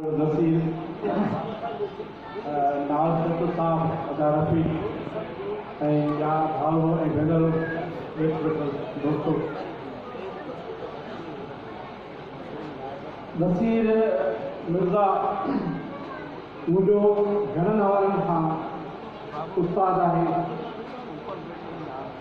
نصير ناز ڪتو صاحب ادا رفيق ۽ ٻيا ڀائرو ۽ ڀينرو نيٺ ويٺل دوستو نصير مرزا مون جو گهڻن حوالن کان استاد آهي.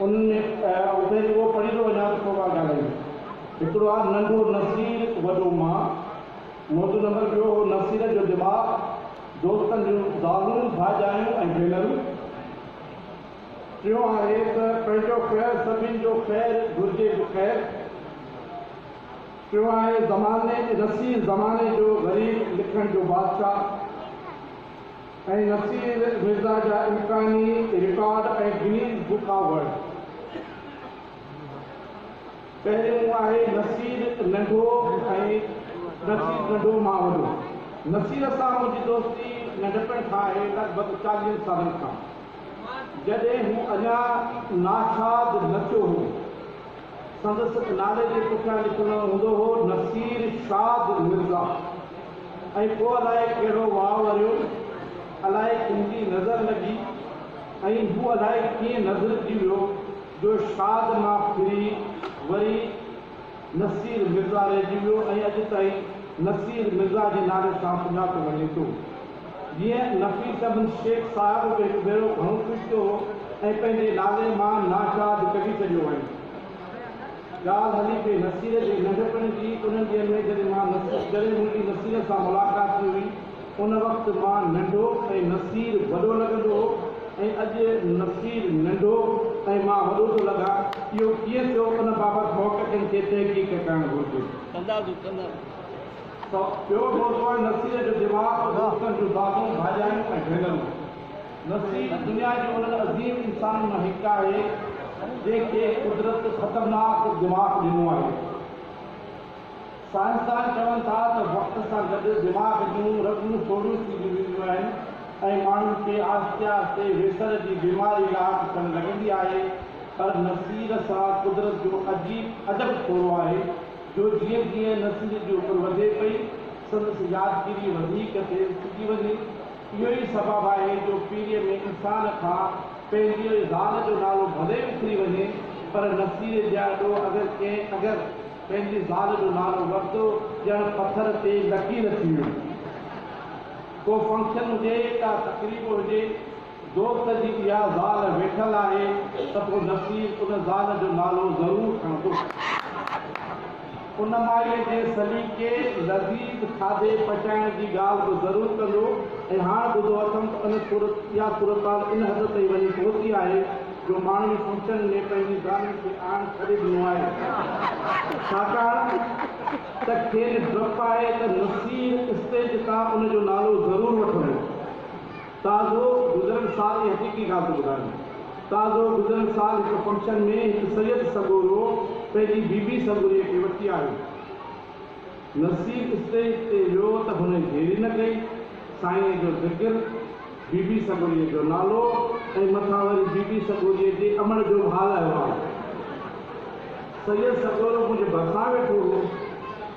ان اتي جو اهو پڙهي ٿو وڃان ته ڪو ڳالهه ڪانه رهي. هڪڙو آ ننڍو نصير وڏو مان موٽو نمبر ٻيو هو نصير جو دماغ دوستن جون زالون ڀاڄايون ۽ ڀينرون ٽيون آهي ته پنهنجو خير سڀين جو خير گهرجي به خير ٽيون آهي زماني نصير زماني جو غريب لکڻ جو بادشاهه. ۽ نصير مرزا جا امڪاني record ۽ Guinness book of world. پهريون آهي نصير ننڍو ۽ نصير ننڍو مان وڏو. نصير سان منهنجي دوستي ننڍپڻ کان آهي، لڳ ڀڳ چاليهن سالن کان، جڏهن هو اڃا ناشاد نٿيو هو. سندس نالي جي پٺيان لکندڙ هوندو هو نصير شاد مرزا ۽ پوء الائي ڪهڙو واء وريو، الائي ڪن جي نظر لڳي ۽ هو الائي ڪيئن نظرجي ويو جو شاد مان ڦري وري نصير مرزا رهجي ويو ۽ اڄ تائين نصير مرزا جي نالي سان سڃاتو وڃي ٿو. جيئن نفيس بن شيخ صاحب به هڪ ڀيرو گهڻو خوش ٿيو هو ۽ پنهنجي نالي مان ناشاد ڪڍي ڇڏيو هئائين. ڳالهه هلي پئي نصير جي ننڍپڻ جي. انهن ڏينهن ۾ جڏهن مان نصير جڏهن منهنجي نصير سان ملاقات ٿي هئي، ان وقت مان ننڍو ۽ نصير وڏو لڳندو هو ۽ اڄ نصير ننڍو ۽ مان وڏو ٿو لڳان. اهو ڪيئن ٿيو، ان بابت محققن کي تحقيق ڪرڻ گهرجي. ته ٻيو ٽوٽو آهي نسيء جو دماغ ۽ دوستن جون دادون، ڀاڄايون ۽ ڀينرون. نسي دنيا جي انهن عظيم انسانن مان هڪ آهي، جنهن کي قدرت خطرناڪ دماغ ڏنو آهي. سائنسدان چون ٿا ته وقت سان گڏ دماغ جون رڳون سوڙهيون ٿينديون وينديون آهن ۽ ماڻهن کي آهستي آهستي ويسر جي بيماري لاٽ ٿيڻ لڳندي آهي، پر نسيء سان قدرت جو عجيب عجب ٿورو آهي. جو جيئن جيئن نصير جي عمر وڌي پئي، سندس يادگيري وڌيڪ تيز ٿيندي وڃي. اهو ئي سبب آهي جو پيريء ۾ انسان کان پنهنجيء زال جو نالو ڀلي وسري وڃي، پر نصير جياڏو اگر ڪنهن اگر پنهنجي زال جو نالو ورتو، ڄڻ پٿر تي لڪير ٿي ويندي. ڪو فنڪشن هجي، ڪا تقريب هجي. دوست جي اها زال ويٺل آهي ته پوء نصير ان زال جو نالو ضرور کڻندو. ان مائيء جي سليقي لذيذ کاڌي پچائڻ جي ڳالهه به ضرور ڪندو ۽ هاڻ ٻڌو اٿم ته ان صورت اها صورتحال ان حد تائين وڃي پهتي آهي جو ماڻهن فنڪشن ۾ پنهنجي زالن کي آڻڻ ڇڏي ڏنو آهي ڇاڪاڻ ته کين ڊپ آهي ته نصير اسٽيج تان ان جو نالو ضرور وٺندو. تازو گذريل سال جي حقيقي ڳالهه ٿو ٻڌايان. تازو گذريل سال هڪ فنڪشن ۾ هڪ سيد سڳورو پنهنجي بي بي سڳوريء کي وٺي آيو. نصير اسٽيج تي ويو ته هن ديري نه ڪئي، سائينء جو ذڪر، بي بي سڳوريء جو نالو ۽ مٿان وري بي بي سڳوريء جي امڙ جو به حال اهوال. سيد سڳورو منهنجي ڀرسان ويٺو هو.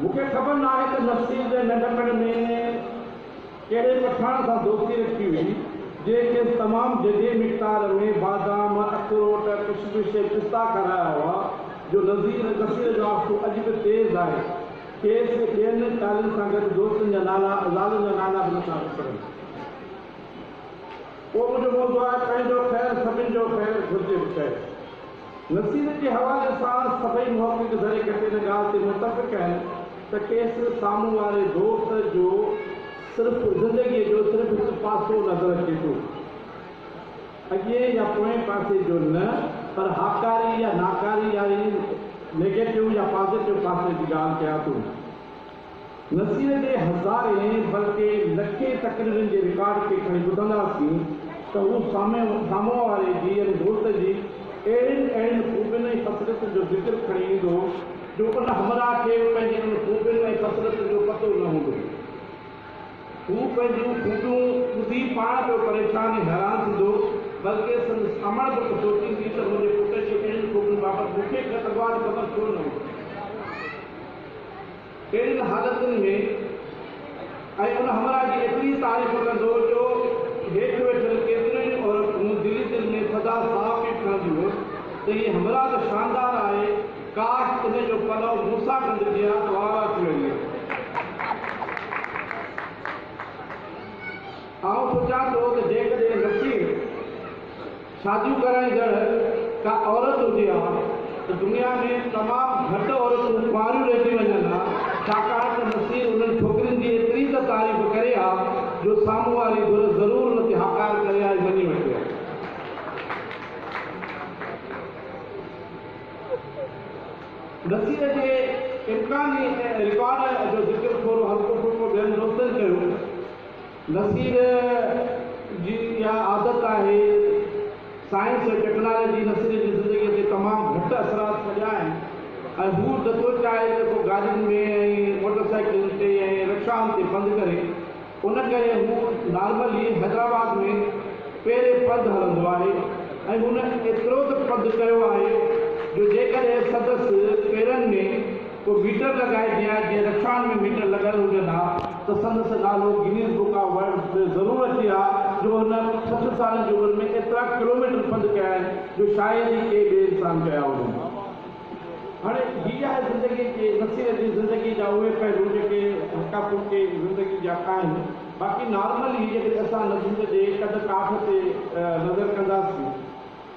مون کي خبر ناهي ته نصير جي ننڍپڻ ۾ ڪهڙي پٺاڻ سان دوستي رکي هئي، جنهن کيس تمام جڌي مقدار ۾ بادام، اخروٽ، ڪشمش ۽ پستا کارايا هئا، جو نصير نصير جو آسو اڄ به تيز آهي. کيس ٻين ڳالهين سان گڏ دوستن جا نالا، زالن جا نالا به نٿا وسرن. پوء منهنجو موضوع آهي پنهنجو خير سڀن جو خير گهرجي به چئي. نصير جي حوالي سان سڀئي محقق ذري گهٽ ان ڳالهه تي متفق آهن ته کيس سامهون واري دوست جو صرف زندگيء جو صرف هڪ پاسو نظر اچي ٿو، اڳئين يا پوئين پاسي جو نه، پر هاڪاري يا ناڪاري يا نيگيٽو يا پازيٽو پاسي جي ڳالهه ڪيان ٿو. نه صرف اهي هزارين بلڪه لکين تقريرن جي رڪارڊ کي کڻي ٻڌنداسين ته هو سامهون واري جي يعني دوست جي اهڙين اهڙين خوبين ۽ خصلتن جو ذڪر کڻي ايندو جو ان همراهه کي پنهنجين ان خوبين ۽ خصلتن جو پتو نه هوندو. هو پنهنجون خوبيون ٻڌي پاڻ پيو پريشان ۽ حيران ٿيندو بلڪه سندس امڙ به سوچيندي ته منهنجي پٽ جي اهڙين خوبين بابت مون کي خبر ڇو نه هئي. اهڙين حالتن ۾ ۽ ان همراهه جي ايتري تعريف ڪندو جو هيٺ ويٺل ڪيتريون ئي عورتون دل ئي دل ۾ ٿڌا ساهه پئي کڻنديون هيون ته هي همراهه ته شاندار آهي ڪاش ان جو پلئو موسيٰ ڍنڍ جيان اوارا ٿي وڃي ها. آئون سوچان ٿو ته جيڪڏهن نصير. شاديون ڪرائڻ جهڙ ڪا عورت هجي ها ته دنيا ۾ تمام گهٽ عورتون ڪنواريون رهجي وڃن ها ڇاڪاڻ ته نصير انهن ڇوڪرين جي ايتري ته تعريف ڪري ها جو سامهون واري ڌر ضرور ان تي هاڪار ڪري ها ۽ مڃي وٺي ها. نصير جي امڪاني رڪارڊ جو ذڪر ٿورو هلڪو ڦلڪو ٻين دوستن ڪيو. نصير جي اها عادت آهي. سائنس ۽ ٽيڪنالاجي نصير جي زندگيء تي تمام گهٽ اثرات ڇڏيا آهن ۽ هو نٿو چاهي ته ڪو گاڏين ۾ ۽ موٽر سائيڪلن تي ۽ رڪشائن تي پنڌ ڪري. ان ڪري هو نارمل ئي حيدرآباد ۾ پيري پنڌ هلندو آهي ۽ هن ايترو ته پنڌ ڪيو آهي جو جيڪڏهن سندس پيرن ۾. ڪو ميٽر لڳائي ڏيان جيئن رڪشائن ۾ ميٽر لڳل هجن ها ته سندس نالو گنيز بڪ آف ورلڊز ۾ ضرور اچي ها جو هن سٺ سالن جي عمر ۾ ايترا ڪلوميٽر پنڌ ڪيا آهن جو شايد ئي ڪي ٻئي انسان ڪيا هجن. هاڻي هي آهي زندگي جي مسير جي زندگي جا اهي پهلو جيڪي هلڪا ڦلڪي زندگي جا آهن باقي نارمل هي جيڪڏهن اسان نظم جي قد ڪاٺ تي نظر ڪنداسين.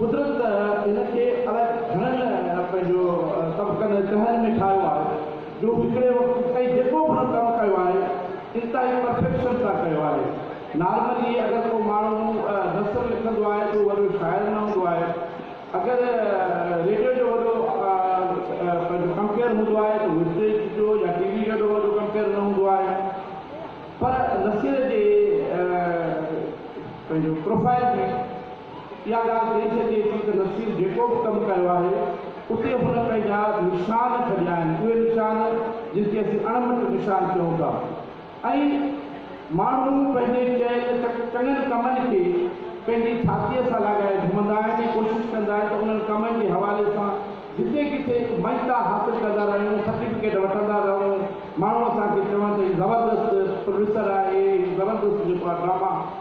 قدرت ته هن کي الائي گهڻن پنهنجو طبقن ۽ تهن ۾ ٺاهيو آهي، جو هو هڪڙي وقت تائين جيڪو به هن ڪم ڪيو آهي، انتهائي پرفيڪشن سان ڪيو آهي. نارملي اگر ڪو ماڻهو نثر لکندو آهي ته هو وڏو شاعر نه هوندو آهي. اگر ريڊيو جو وڏو پنهنجو ڪمپيئر هوندو آهي ته هو اسٽيج جو يا ٽي وي جو ايڏو وڏو ڪمپيئر نه هوندو آهي. پر نثر جي پنهنجو پروفائيل ۾. اها ڳالهه چئي سگهجي ٿي ته نصير جيڪو به ڪم ڪيو آهي، اتي هن پنهنجا نشان ڇڏيا آهن، اهي نشان جن کي اسين اڻ مٽ نشان چئون ٿا ۽ ماڻهو پنهنجي ڪيل چڱن ڪمن کي پنهنجي ڇاتيء سان لاڳائي گهمندا آهن ۽ ڪوشش ڪندا آهن ته انهن ڪمن جي حوالي سان جتي ڪٿي به مڃتا حاصل ڪندا رهيون، سرٽيفڪيٽ وٺندا رهون، ماڻهو اسان کي چون ته هي زبردست پروفيسر آهي، هي زبردست جيڪو آهي ڊراما.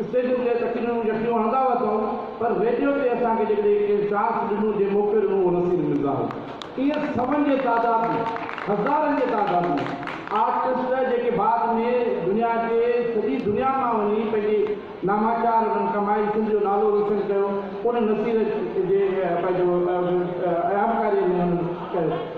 اسٽيجن تي تقريرون يڪجون هڻندا هئا ٿؤن پر ريڊيو تي اسان کي جيڪڏهن ڪنهن چانس ڏنو جنهن موقعو ڏنو اهو نصير مرزا هو. ائين سون جي تعداد ۾ هزارن جي تعداد ۾ آرٽسٽ جيڪي بعد ۾ دنيا جي سڄي دنيا مان وڃي پنهنجي ناماچار انهن ڪمائي سنڌ جو نالو روشن ڪيو انهن نصير جي پنهنجو اهمڪاري ۾ انهن ڪيو.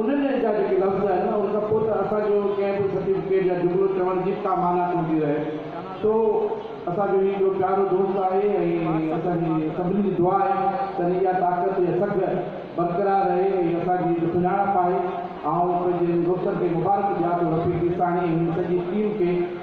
انهن جا جيڪا لفظ آهن نه ان کان پوء ته اسان جو ڪنهن به سرٽيفڪيٽ يا جملو چوڻ جي به ڪا معنيٰ ڪوندي رهي سو اسان جو هي جو پيارو دوست آهي ۽ اسان جي سڀني جي دعا آهي ته ان جي اها طاقت يا سگهه برقرار رهي ۽ اسان جي جو سڃاڻپ آهي آئون پنهنجي ان دوستن کي مبارڪ ڏيان ٿو رفيق عيساڻي ۽ هن سڄي ٽيم کي.